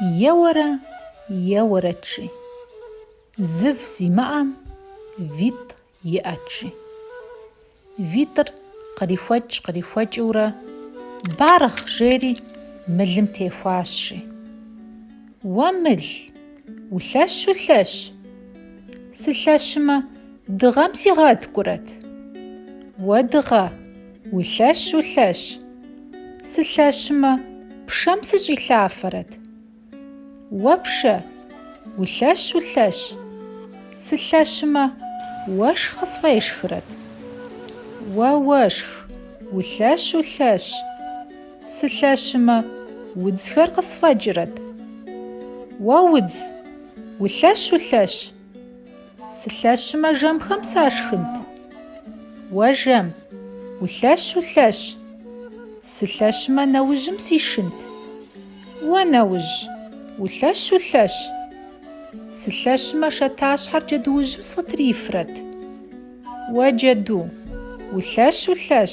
Еуэрэ, еуэрэт, жи. Зыв зимыӏэм витӏ иӏэт, жи. Витӏыр кърихуэкӏ-кърихуэкӏыурэ, Баргъ! жери мылым техуащ, жи. Уэ мыл, улъэщ-улъэщ! Сылъэщымэ, дыгъэм сигъэткӏурэт? Уэ дыгъэ! Улъэщ, улъэщ. Сылъэщмэ, пшэм сыщӏилъафэрэт? Уэ пшэ. Улъэщ, улъэщ. Сылъэщмэ, уэшх къысфӏешхрэт? Уэ уэшх. Улъэщ, улъэщ. Сылъэщмэ, удзхэр къысфӏэкӏрэт? Уэ удз. Улъэщ, улъэщ. Сылъэщымэ жэмхэм сашхынт. Уэ жэм, улъэщ, улъэщ. Сылъэщымэ нэужьым сишынт. Уэ нэужь, улъэщ, улъэщ. Сылъэщымэ шатащхьэр джэдуужьым сфӏытрифрэт. Уэ джэду, улъэщ, улъэщ.